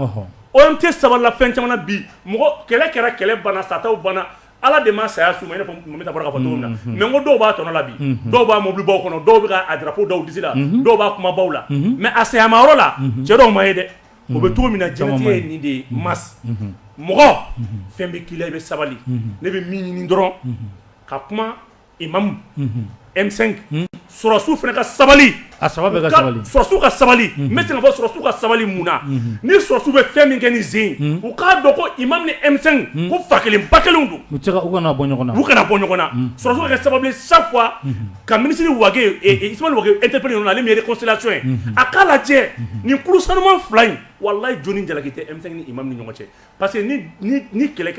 o tɛ sabala fɛn caman bi mɔgɔ kɛlɛ kɛra kɛlɛ bana sata banna Ala de ma saya s'u ma i n'a fɔ Mamɛdi Tara bɔra k'a fɔ cogo min na unhun mais n ko dɔw b'a tɔnɔ la bi unhun dɔw b'a mobilibaw kɔnɔ dɔw bɛ ka a drapeau da u disi la unhun dɔw b'a kumabaw la unhun mais a sayama yɔrɔ la unhun cɛ dɔw ma ye dɛ unhun o bɛ cogo min na caman ma ye jɛnatigɛ ye nin de ye Mass unhun mɔgɔ unhun fɛn bɛ k'i la i bɛ sabali unhun ne bɛ min ɲini dɔrɔn unhun ka kuma Imam M5 sɔrɔsiw fana ka sabali a sabali sɔrɔsiw ka sabali n bɛ se k'a fɔ sɔrɔsiw ka sabali mun na ni sɔrɔsiw bɛ fɛn min kɛ ni sen u k'a dɔn ko imam ni M5 ko fa kelen ba kelen don u u kana bɔ ɲɔgɔn u kana bɔ ɲɔgɔn na sɔrɔsiw ka kɛ sababu ye chaque fois ka minisiri Wage Ismaël Wage interpeller mun na ale min ye réconciliation ye a k'a lajɛ nin kulu sanuman fila in wallahi jɔni jalaki tɛ M5 ni imam ni ɲɔgɔn cɛ parce que ni kɛlɛ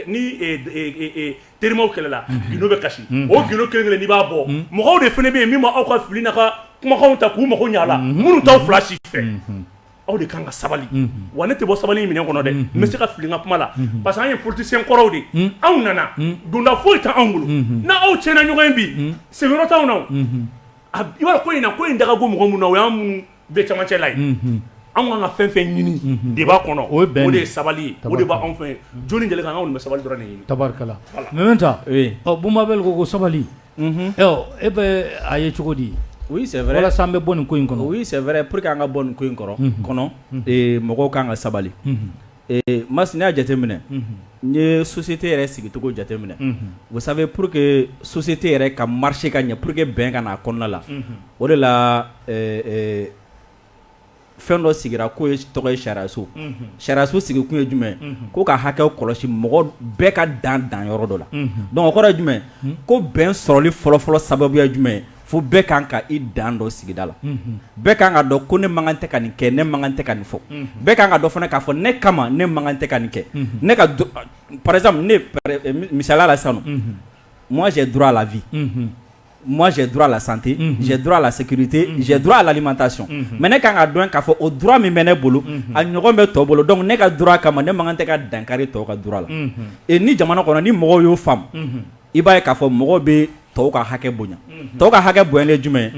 terimaw kɛlɛla gindo bɛ kasi o gindo kelen kelen n'i b'a bɔ mɔgɔw de fana bɛ yen min bɛ aw ka fili n'aw ka kumakanw ta k'u mago ɲɛ a la minnu t'aw fila si fɛ aw de kan ka sabali wa ne tɛ bɔ sabali minɛn kɔnɔ dɛ n bɛ se ka fili n ka kuma la parce que an ye politicien kɔrɔw de ye anw nana donda foyi tɛ anw bolo n'aw tiɲɛna ɲɔgɔn ye bi sigiyɔrɔ t'anw na o i b'a dɔn ko in na ko in da ka go mɔgɔ minnu na o y'an bɛ cɛmancɛ la yen, unhun, anw ka kan ka fɛn o fɛn ɲini débat kɔnɔ o ye bɛn de ye, o de ye sabali ye, tabarika la, o de bɛ anw fɛ yen, jɔni jɛlen kan anw de bɛ sabali dɔrɔn de ɲini, tabarika la, Mɛmɛnta, oui, ɔ Boubou Mabel ko ko sabali, unhun, ɔ e bɛ a ye cogo di? oui c'est vrai walasa an bɛ bɔ nin ko in kɔnɔ, oui c'est vrai pour que an ka bɔ nin ko in kɔrɔ, unhun, kɔnɔ, ee mɔgɔw ka kan ka sabali, unhun Ee mas n'i y'a jateminɛ n'i ye société yɛrɛ sigicogo jateminɛ vous savez pour que société yɛrɛ ka marcher ka ɲɛ pour que bɛn ka na a kɔnɔna la o de la fɛn dɔ sigira k'o ye tɔgɔ ye sariyaso sariyaso sigikun ye jumɛn ye ko ka hakɛ kɔlɔsi mɔgɔ bɛɛ ka dan dan yɔrɔ dɔ la donc o kɔrɔ jumɛn ko bɛn sɔrɔli fɔlɔfɔlɔ sababuya jumɛn fo bɛɛ kan ka i dan dɔn sigida la, unhun, bɛɛ ka kan k'a dɔn ko ne man kan tɛ ka nin kɛ ne man kan tɛ ka nin fɔ, unhun, bɛɛ ka kan k'a dɔn fana k'a fɔ ne kama ne man kan tɛ ka nin kɛ, unhun, ne ka par exemple ne misaliya la sisan nɔ, unhun, moi j'ai droit à la vie, unhun, moi j'ai droit à la santé, unhun, j'ai droit à la sécurité, unhun, j'ai droit à l'alimentation, unhun, mais ne ka kan k'a dɔn k'a fɔ o droit min bɛ ne bolo, unhun, a ɲɔgɔn bɛ tɔw bolo donc ne ka droit kama ne man kan tɛ ka dankari tɔw ka droit la, unhun, et ni jamana kɔnɔ ni mɔgɔw y'o faamu, unhun i b'a ye k'a fɔ mɔgɔ bɛ tɔw ka hakɛ bonya tɔw ka hakɛ bonya ye jumɛn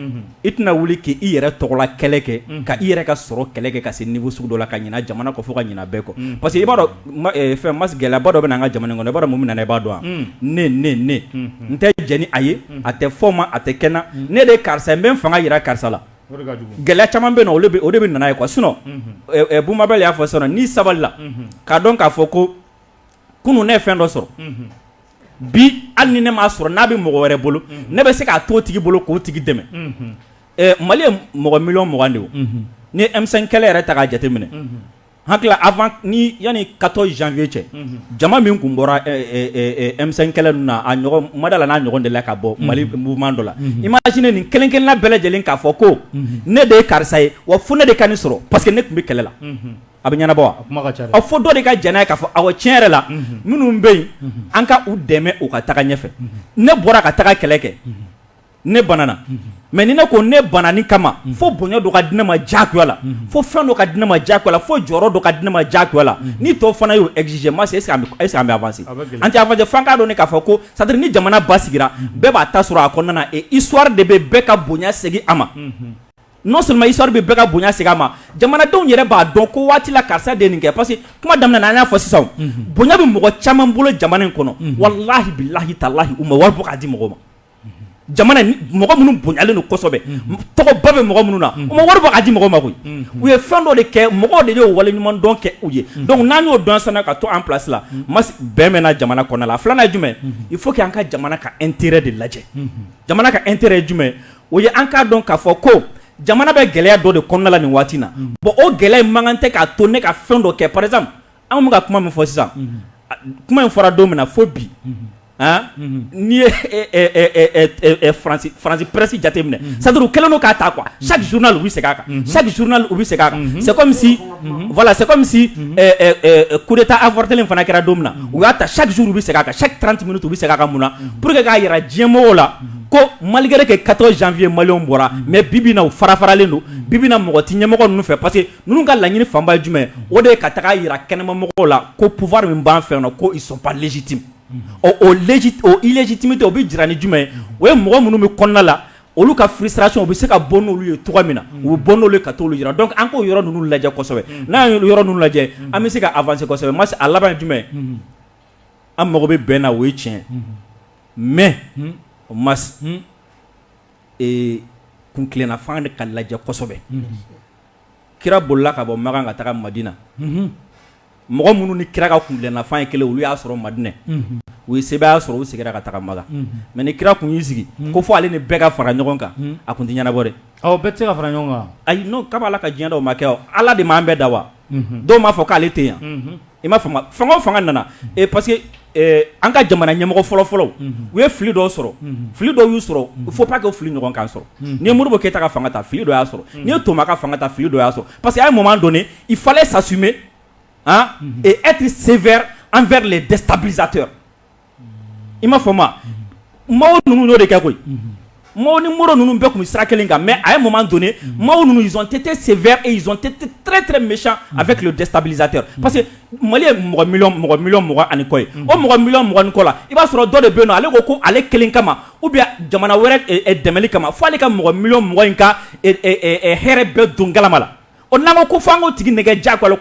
i tɛna wuli k'i yɛrɛ tɔgɔla kɛlɛ kɛ ka i yɛrɛ ka sɔrɔ kɛlɛ kɛ ka se niveau sugu dɔ la ka ɲina jamana kɔ fo ka ɲina bɛɛ kɔ parce que i b'a dɔn fɛn mas gɛlɛyaba dɔ bɛ na an ka jamana kɔnɔ i b'a dɔn mun bɛ na i b'a dɔn ne ne ne n tɛ jɛn ni a ye a tɛ fɔ n ma a tɛ kɛ n na ne de ye karisa n bɛ n fanga jira karisa la gɛlɛya caman bɛ o de bɛ na n'a ye quoi sinon Boubou Mabel y'a fɔ sisan n'i sabalila k'a dɔn k'a fɔ ko kunun ne ye fɛn dɔ sɔrɔ bi hali ni ne m'a sɔrɔ n'a bɛ mɔgɔ wɛrɛ bolo ne bɛ se k'a to o tigi bolo k'o tigi dɛmɛ mali ye mɔgɔ miliyɔn mugan de ye ni M5 kɛlɛ yɛrɛ ta k'a jateminɛ hakili la avant ni yanni quatorze janvier cɛ jama min tun bɔra M5 kɛlɛ ninnu na a ɲɔgɔn n ma da a la n'a ɲɔgɔn delila ka bɔ mali mouvement dɔ la imagine nin kelen-kelenna bɛɛ lajɛlen k'a fɔ ko ne de ye karisa ye wa fo ne de ka nin sɔrɔ parce que ne tun bɛ kɛlɛ la A bɛ ɲɛnabɔ wa fo dɔ de ka jɛn n'a ye k'a fɔ awɔ tiɲɛ yɛrɛ la minnu bɛ yen an ka u dɛmɛ u ka taga ɲɛfɛ ne bɔra ka taga kɛlɛ kɛ ne banana mais ni ne ko ne banani kama fo bonya dɔ ka di ne ma diyagoya la fo fɛn dɔ ka di ne ma diyagoya la fo jɔyɔrɔ dɔ ka di ne ma diyagoya la ni tɔw fana y'o exiger mais est-ce que an bɛ avancer an tɛ avancer fo an k'a dɔn k'a fɔ ko c'est-à-dire ni jamana basigira bɛɛ b'a ta sɔrɔ a kɔnɔna na et histoire de bɛ bɛɛ ka bonya segin a ma Non seulement histoire bɛ bɛɛ ka bonya segin a ma jamanadenw yɛrɛ b'a dɔn ko waati la karisa de nin kɛ parce que kuma daminɛ na an y'a fɔ sisan bonya bɛ mɔgɔ caman bolo jamana in kɔnɔ walahi bilahi talahi u ma wari bɔ k'a di mɔgɔ ma jamana mɔgɔ minnu bonyalen don kosɛbɛ tɔgɔba bɛ mɔgɔ minnu na u ma wari bɔ k'a di mɔgɔ ma koyi u ye fɛn dɔ de kɛ mɔgɔw de y'o wale ɲuman dɔn kɛ u ye donc n'an y'o dɔn sisan ka to an place la bɛn bɛ na jamana kɔnɔ la filanan ye jumɛn il faut qu' an ka jamana ka intérêt de lajɛ jamana ka intérêt ye jumɛn o ye an k'a dɔn k'a fɔ ko jamana bɛ gɛlɛya dɔ de kɔnɔna la nin waati na bon o gɛlɛya man kan tɛ k'a to ne ka fɛn dɔ kɛ par exemple an bɛ ka kuma min fɔ sisan kuma in fɔra don min na fo bi n'i ye faransi presse jateminɛ c'est-à-dire u kɛlen don k'a ta quoi chaque journal u bɛ segin a kan chaque journal u bɛ segin a kan c'est comme si voilà c'est comme si coup d'état avorté fana kɛra don min na u y'a ta chaque jour u bɛ segin a kan chaque trente minutes u bɛ segin a kan mun na pour que k'a jira diɲɛmɔgɔw la ko malgré que quatorze janvier mali bɔra mais bibi na u farafaralen don bibi na mɔgɔ tɛ ɲɛmɔgɔ ninnu fɛ parce que ninnu ka laɲini fanba ye jumɛn o de ye ka taga jira kɛnɛmamɔgɔw la ko pouvoir min b'an fɛ yan ko ils sont pas légitimes o illégitimité o bɛ jira ni jumɛn ye o ye mɔgɔ minnu bɛ kɔnɔna la olu ka frustration u bɛ se ka bɔ n'olu ye cogo min na u bɛ bɔ n'olu ye ka taa jira donc an k'o yɔrɔ ninnu lajɛ kosɛbɛ n'an ye yɔrɔ ninnu lajɛ an bɛ se ka avancer mais a laban ye jumɛn an mago bɛ bɛn na o ye tiɲɛ mais o ma kuntilennafan de ka lajɛ kosɛbɛ kira bolila ka bɔ makan ka taga madina mɔgɔ minnu ni kira ka kuntilennafan ye kelen olu y'a sɔrɔ madinɛ u ye sebaaya sɔrɔ u seginna ka taga makan mais ni kira tun y'i sigi ko fo ale ni bɛɛ ka fara ɲɔgɔn kan a tun tɛ ɲɛnabɔ dɛ aw bɛɛ tɛ se ka fara ɲɔgɔn kan a n'o kaba ala ka diɲɛ dɔw ma kɛ ala de m'an bɛɛ da wa dɔw m'a fɔ k'ale tɛ yan i m'a faamu fanga o fanga nana parce que an ka jamana ɲɛmɔgɔ fɔlɔ fɔlɔ u ye fili dɔ sɔrɔ fili dɔ y'u sɔrɔ il faut pas que o fili ɲɔgɔn k'an sɔrɔ n'i ye modibo keyita ka fanga ta fili dɔ y'a sɔrɔ n'i ye toma ka fanga ta fili dɔ y'a sɔrɔ parce que à un moment donné il fallait s'assumer et être sévère envers les déstabilisateurs i ma fɔ ma mɔgɔw ninnu de kɛ koyi mɔgɔw ni mori ninnu bɛɛ tun bɛ sira kelen kan mɛ a ye mun don mɔgɔw ninnu tɛ tɛ sen tɛrɛɛrɛ mi a bɛ kilo dɛsɛsabiztɛ parce que mali ye mɔgɔ mi mɔgɔ ani kɔ ye o mɔgɔ mi mɔgɔɔgɔn kɔ la i b'a sɔrɔ dɔ de bɛ yen ale ko ko ale kelen kama u bɛ jamana wɛrɛ dɛmɛ kama fo ale ka mɔgɔ mi mɔgɔ in ka hɛrɛ bɛɛ don kalama la O na ko fan ko tigi nɛgɛ ja k'o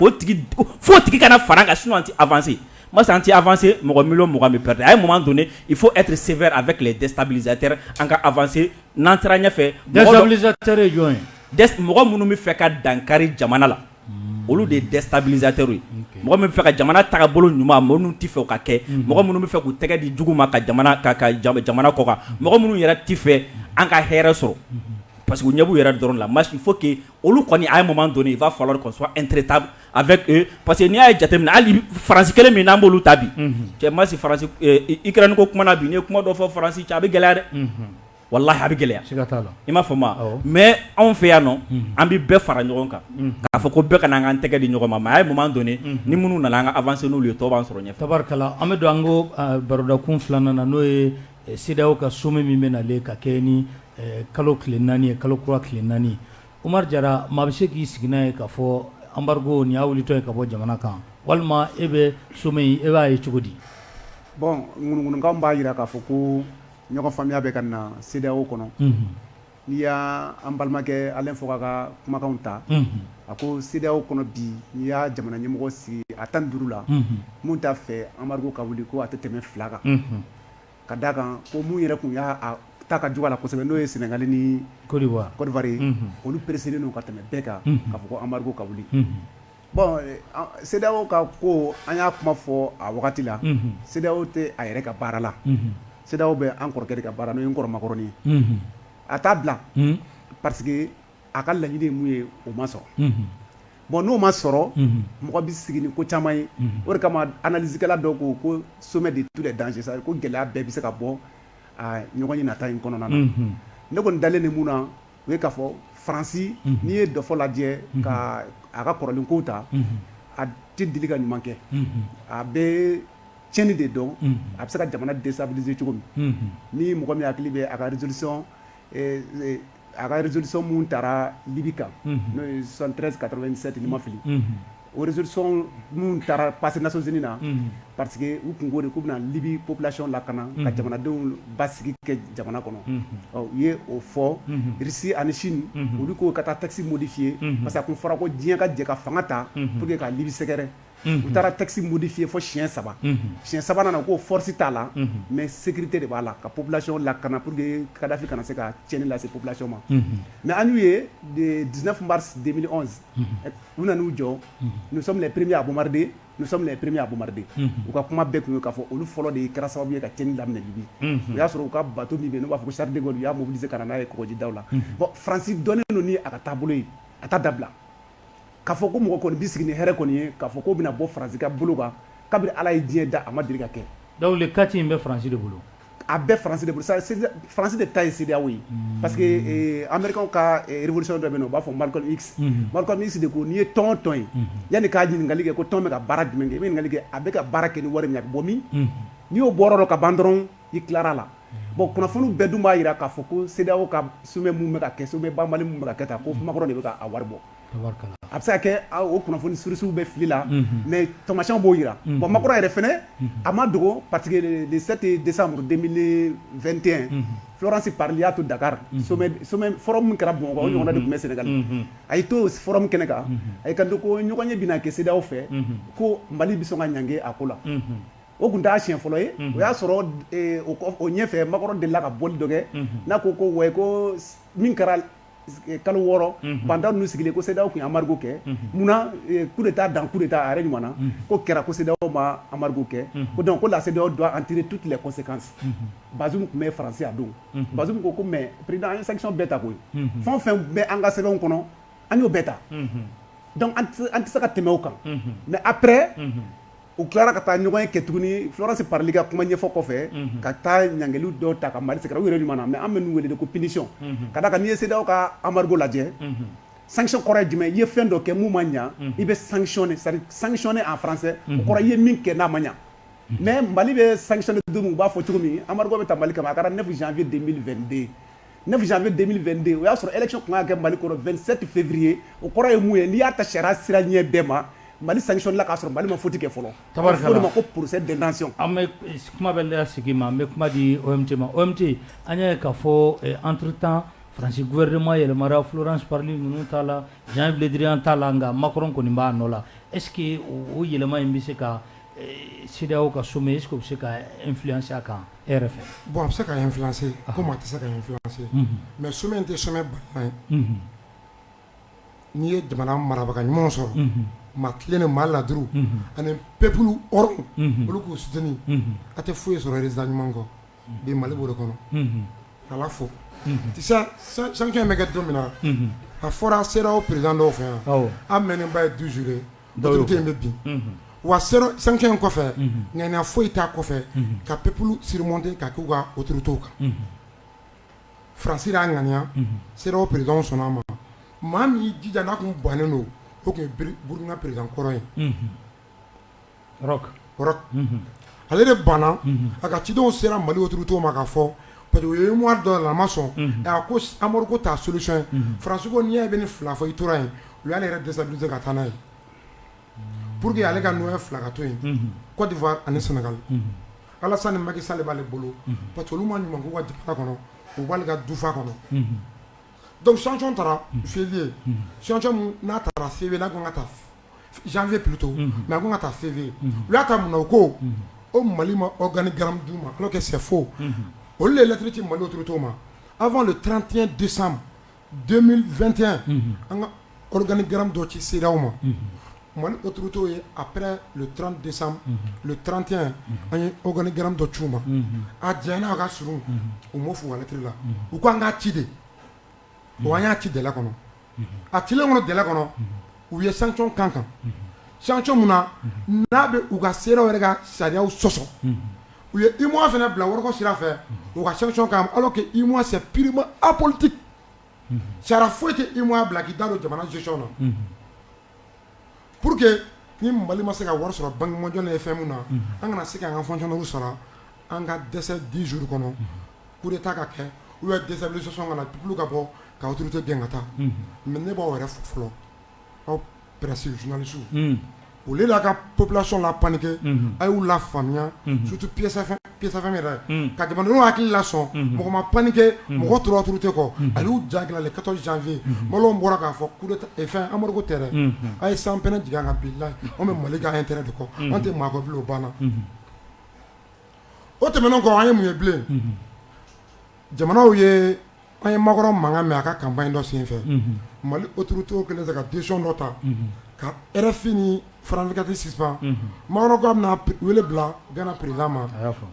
fo tigi kana fara ka sun tɛ afase ma an tɛ afase mɔgɔ mi mɔgɔ min pte a ye mɔgɔ don i fo e tɛ sen a bɛ tile dɛsɛsabiztɛ an ka afase n'an taara ɲɛfɛ jɔn mɔgɔ minnu bɛ fɛ ka dankari jamana la olu de ye dɛsɛsabizter ye mɔgɔ min fɛ ka jamana ta bolo ɲuman minnu tɛ fɛ ka kɛ mɔgɔ minnu bɛ fɛ k'u tɛgɛ di jugu ma ka jamana kɔ mɔgɔ minnu yɛrɛ tɛ fɛ an ka hɛrɛɛɛrɛ sɔrɔ pa que ɲɛ yɛrɛ dɔrɔn la ma fo olu kɔni à un moment donné il va falloir qu'on soit intraitable avec eux parce que n'i y'a ye jateminɛ hali France kelen min n'an b'olu ta bi, unhun, cɛ n ma si France Ukraine ko kuma na bi n'i ye kuma dɔ fɔ France cɛ a bɛ gɛlɛya dɛ, unhun, walahi a bɛ gɛlɛya, siga t'a la, i m'a faamu wa, awɔ, mais anw fɛ yan nɔ an bɛ bɛɛ fara ɲɔgɔn kan k'a fɔ ko bɛɛ ka na an ka an tɛgɛ di ɲɔgɔn ma mais à un moment donné ni minnu nana an ka avancer n'olu ye tɔw b'an sɔrɔ ɲɛfɛ, tabarikala, an bɛ don an ko barodakun filanan na n'o ye CEDEAO ka sommet min bɛ nalen ka kɛɲɛ ni kalo tile naani ye, kalo kura tile naani, Umaru Jara maa bɛ se k'i sigi n'a ye k'a fɔ embargo nin y'a wulitɔ ye ka bɔ jamana kan walima e bɛ sommet in e b'a ye cogo di? Bon ŋunuŋunukan b'a jira k'a fɔ ko ɲɔgɔnfaamuya bɛ ka na CEDEAO kɔnɔ, unhun N'i y' an balimakɛ Alain Foka ka kumakanw ta a ko CEDEAO kɔnɔ bi n'i y'a jamana ɲɛmɔgɔ sigi a tan duuru la min t'a fɛ embargo ka wuli ko a tɛ tɛmɛ fila kan ka d' a kan ko minnu yɛrɛ tun y'a ta ka jugu a la kosɛbɛ n'o ye Sénégal ni Côte d'Ivoire ye olu presselen don ka tɛmɛ bɛɛ kan k'a fɔ ko embargo ka wuli Bon CEDEAO ka ko an y'a kuma fɔ a wagati la CEDEAO tɛ a yɛrɛ ka baara la CEDEAO bɛ an kɔrɔkɛ de ka baara n'o ye n kɔrɔ Makɔrɔni ye a t'a bila parce que a ka laɲini ye min ye o ma sɔrɔ bon n'o ma sɔrɔ mɔgɔ bɛ sigi ni ko caman ye o de kama analysekɛla dɔw ko ko sommet de tous les dangers c'est-à-dire ko gɛlɛya bɛɛ bɛ se ka bɔ ɲɔgɔnye nata in kɔnɔna na ne kɔni dalen de mun na o ye k'a fɔ faransi n'i ye dɔfɔ lajɛ ka a ka kɔrɔlenkow ta a tɛ deli ka ɲuman kɛ a bɛ ciɲɛni de dɔn a bɛ se ka jamana déstabiliser cogo min ni mɔgɔ min hakili bɛ a ka résolution a ka résolution minnu taara libi kan n'o ye soixante-treize quatre-vingt-sept ni n ma fili Orezsɔn minnu taara pasi naonc na pa que u tun ko de k'u bɛna libi pplasiɔn la ka na ka jamanadenw ba sigi kɛ jamana kɔnɔ u ye o fɔ si ani sini olu k'o ka taa takisi mudi f' ye masa tun fara ko diɲɛ ka jɛ ka fanga ta p que ka libi sɛgɛrɛ u taara takisi mudi f' ye fɔ siyɛn saba si sabanan na k'o fɔsi t'a la mɛ segukite de b'a la ka plasi la ka na pur que kadafin kana na se ka cɛnɲɛni lase plasi ma mɛ an'u ye diinɛ tunba deli u nana u jɔ nous sommes les premiers à bombarder nous sommes les premiers à bombarder u ka kuma bɛɛ kun ye k'a fɔ olu fɔlɔ de kɛra sababu ye ka cɛnni daminɛ libi o y'a sɔrɔ u ka bato min bɛ yen n'u b'a fɔ ko charles de gaulle u y'a mobiliser ka na n'a ye kɔgɔjida la bon faransi dɔnnen don ni a ka taabolo ye a t'a dabila k'a fɔ ko mɔgɔ kɔni bɛ sigi ni hɛrɛ kɔni ye k'a fɔ ko bɛna bɔ faransi ka bolo kan kabini ala ye diɲɛ da a ma deli ka kɛ donc kati in bɛ faransi de bolo a bɛɛ faransi de bolo faransi de ta ye CEDEAO ye parce que américain ka révolution dɔ bɛ yen n'u b'a fɔ malcolm x malcolm x de ko n'i ye tɔn o tɔn ye yanni k'a ɲininkali kɛ ko tɔn bɛ ka baara jumɛn kɛ i bɛ ɲininkali kɛ a bɛ ka baara kɛ ni wari min ye a bɛ bɔ min n'i y'o bɔyɔrɔ dɔn ka ban dɔrɔn i tilara la bon kunnafoni bɛɛ dun b'a jira k'a fɔ ko CEDEAO ka sommet min bɛ ka kɛ sommet banbali minnu bɛ ka kɛ tan ko macron de bɛ k'a wari bɔ a bɛ se ka kɛ o kunnafoni surusiw bɛ fili la mais taamasiyɛnw b'o jira bon macron yɛrɛ fana a ma dogo parce que le 7 décembre 2021 florence parly y'a to dakar forum min kɛra bamakɔ o ɲɔgɔnna de tun bɛ sénégal a y'i to forum kɛnɛ kan a y'i kanto ko ɲɔgɔnye bɛna kɛ CEDEAO fɛ ko mali bɛ sɔn ka ɲangi a ko la o tun t'a siɲɛ fɔlɔ ye o y'a sɔrɔ o ɲɛfɛ macron delila ka bɔli dɔ kɛ n'a ko wa ko min kɛra kalo wɔɔrɔ bantan ninnu sigilen ko sedaw tun amadudu kɛ munna ku de taa dan ku de taa a yɛrɛ ɲɔgɔn na ko kɛra ko sedaw ma amadudu kɛ ko dɔn ko la sedaw don an teri tu tilala kɔse kan ba tun bɛ faraya don ba ko ko mɛ pered an ye sa bɛɛ ta koyi fɛn fɛn bɛ an ka sɛbɛnw kɔnɔ an y'o bɛɛ ta an tɛ se ka tɛmɛ o kan mɛ apɛ u tilara ka taa ɲɔgɔnye kɛ tuguni florence parly ka kuma ɲɛfɔ kɔfɛ ka taa ɲangili dɔw ta ka mali sɛgɛrɛ u yɛrɛ ɲuman na mais an bɛ ninnu wele de ko punition ka d'a kan n'i ye CEDEAO ka embargo lajɛ sanction kɔrɔ ye jumɛn i ye fɛn dɔ kɛ mun ma ɲɛ i bɛ sanctionner c'est-à-dire sanctionner en français o kɔrɔ i ye min kɛ n'a ma ɲɛ mais mali bɛ sanctionner don min u b'a fɔ cogo min embargo bɛ ta mali kama a tara 9 janvier 2022 9 janvier 2022 o y'a sɔrɔ élection tun ka kan ka kɛ Mali kɔnɔ 27 février o kɔrɔ ye mun ye n'i y'a ta sariya sira ɲɛ bɛɛ ma Mali sanctionner la k'a sɔrɔ Mali ma faute kɛ fɔlɔ, tubabukan na, a bɛ fɔ o de ma ko procès d'intention an bɛ kuma bɛ da sigi ma an bɛ kuma di OMT ma OMT an y'a ye k'a fɔ entre temps Faransi gouvernement yɛlɛmana Florence Parly ninnu taala Jean-Yves Le Drian taala nka Macron kɔni b'a nɔ la est ce que o yɛlɛma in bɛ se ka CEDEAO ka sommet est ce que o bɛ se ka influencer a kan bon a bɛ se ka influencer comme a tɛ se ka influencer mais sommet in tɛ sommet balalen ye n'i ye jamana marabaga ɲumanw sɔrɔ maa tilennen maa laadiri ani peuple hɔrɔn olu k'u soutenir a tɛ foyi sɔrɔ résultat ɲuman kɔ bi Mali b'o de kɔnɔ k'Ala fo sanction in bɛ kɛ don min na a fɔra CEDEAO président dɔw fɛ yan an mɛɛnnen ba ye 12 jours ye. in bɛ bin wa sanction in kɔfɛ ŋaniya foyi t'a kɔfɛ ka peuple surmonter ka k'u ka autorités kan Faransi y'a ŋaniya CEDEAO présidentw sɔnna a ma maa min y'i jija n'a tun bannen don o tun ye Burkina président kɔrɔ ye ale de banna a ka cidenw sera mali otu to ma ka fɔ pa ye dɔ la a ma sɔn ko amadu ko taa soc fara n'i y' bɛ ni fila fɔ i tora yen u y'ale yɛrɛ dɛsɛ se ka taa n'a ye pur que ale ka n filakato yen kɔdi ani sɛnɛga ala ni maki sali b'ale bolo pa olu ma ɲuman k'u ka jamana kɔnɔ u b'ale ka dufa kɔnɔ dɔnkuc ccɔn taara fi ye ccɔn n'a taara fi la ka taa janvier plutôt unhun, mais a tun bɛna taa février unhun, u y'a ta mun na u ko ko Mali ma organigramme d'u ma alors que c'est faux unhun, olu de ye lettre ci Mali autorités ma avant le 31 décembre 2021 unhun, an ka organigramme dɔ ci CEDEAO ma, unhun, Mali autorités ye après le 30 décembre unhun, le 31 an ye organigramme dɔ ci u ma, unhun, a janyana a ka surun u m'o fɔ u ka lettre la u ko an k'a ci de bon an y'a ci délai kɔnɔ, a cilen kɔnɔ délai kɔnɔ, u ye sanction k'an kan, sanction min na n'a bɛ u ka CEDEAO yɛrɛ ka sariyaw sɔsɔ, u ye UEMOA fana bila wariko sira fɛ u ka sanction k'an kan alors que UEMOA c'est purement apolitique sariya foyi tɛ UEMOA bila k'i da don jamana gestion na pour que ni Mali ma se ka wari sɔrɔ banque mondiale ye fɛn min na an kana se k'an ka fonctionnaires sara An ka dɛsɛ 10 jours kɔnɔ unhun coup d'Etat ka kɛ ou bien déstabilisation ka na peuple ka bɔ ka autorité gɛn ka taa unhun mais ne b'aw yɛrɛ fo fɔlɔ aw presse journalistew unhun au lieu aw ka population la paniquer unhun a y'u lafaamuya unhun surtout Peace FM Peace FM yɛrɛ unhun ka jamanadenw hakili lasɔn unhun mɔgɔ ma paniquer unhun mɔgɔ tora autorité kɔ unhun a y'u ja gɛlɛya le 14 janvier unhun Malienw bɔra k'a fɔ coup d'Etat e fɛn embargo tɛ dɛ unhun a' ye sanpɛnɛ jigin an kan bilahi anw bɛ Mali ka intérêt de kɔ unhun an tɛ maa kɔ bilen o banna unhun o tɛmɛnen kɔ an ye mun ye bilen jamanaw ye an ye makɔrɔ mankan mɛn a ka kanba in dɔ sen fɛ mali otu to kɛlen ka disi dɔ ta ka yɛrɛfin ni farankati sisan makan ka bɛna wele bila gana perez ma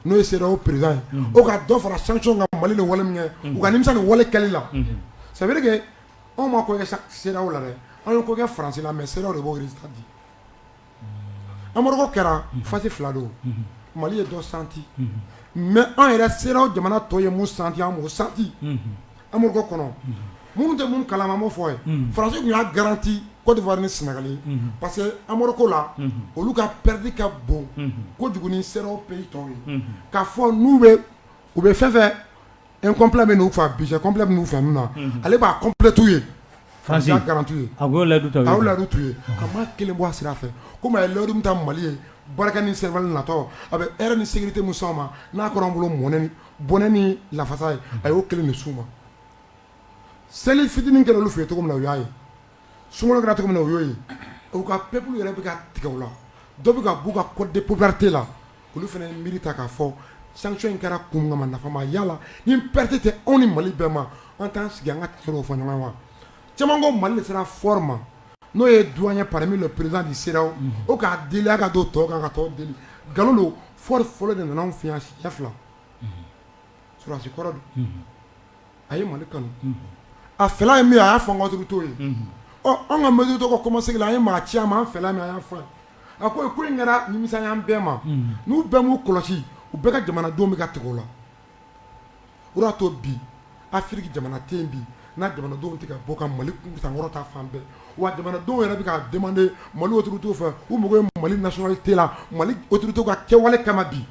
n'o ye se o perez ye o ka dɔ fara san ka mali ni wale min kɛ u kamisa nin wale kɛli la sabulake anw ma ko se la dɛ anw ko kɛ farasi la mɛ se de b'o di amadu kɛra fa fila don mali ye dɔ santi mɛ an yɛrɛ sera o jamana tɔ ye mu santi o santi amadu kɔnɔ minnu tɛ minnu kala ma fɔ farasiw y'a garanti kowa ni sinagali parce que amadu ko la olu ka pɛdi ka bon ko sera o pe tɔn ye ka fɔ n'u bɛ u bɛ fɛn fɛ e kɔnpla bɛ n'u faa bi kɔnpla bɛ'u faamu na ale b'a kɔnplɛtuu ye faraz garanrantu ye a la a ladi tu ye a ma kelen bɔ a sira a fɛ ko ye ladi ta mali ye barika ni sɛbɛnba natɔ a bɛ e ni sigi tɛ mu ma n'a kɔrɔ bolo mɔnɛ bɔnɛ ni lafasa ye a y'o kelen ni su ma seli fitinin kɛra olu f ye cogo min na o y'a ye Sunkalo kɛra cogo min na u y'o ye u ka peuple yɛrɛ bɛ ka tigɛ u la dɔ bɛ ka b'u ka cote de popularité la olu fana miiri ta k'a fɔ sanction in kɛra kun kama nafa ma y'a la ni perte tɛ anw ni mali bɛɛ ma an t'an sigi an ka tiɲɛ fɔ ɲɔgɔn wa caman ko mali de sera Faure ma n'o ye doyen ye parmi les présidents de CEDEAO k'a deli a ka don tɔw kan ka tɔw deli nkalon don Faure fɔlɔ de nana an fɛ yan siɲɛ fila sɔrɔdasi kɔrɔ don a ye mali kanu a fɛla ye min ye a y'a fɔ mali autorités ye ɔ an ka mali tɔgɔ kɔma seg an ye maa ci a ma an fɛla min a y'a fɔ a ko ko in kɛra nimisa y'an bɛɛ ma n'u bɛɛ m'u kɔlɔsi u bɛɛ ka jamanadenw bɛ ka tigɛ u la o de y'a to bi Afiriki jamana tɛ yen bi n'a jamanadenw tɛ ka bɔ ka mali sankɔrɔta fan bɛɛ wa jamanadenw yɛrɛ bɛ ka demander mali autorités fɛ u mako mali nationalité la mali autorités ka kɛwale kama bi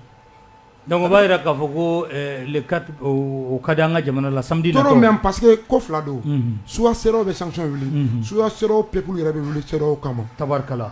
Dɔnku b'a jira k'a fɔ ko ka di an ka jamana la sadi mɛ pa que ko fila don suwa se bɛ san wuli su se pep yɛrɛ bɛ wuli se o kama tarikala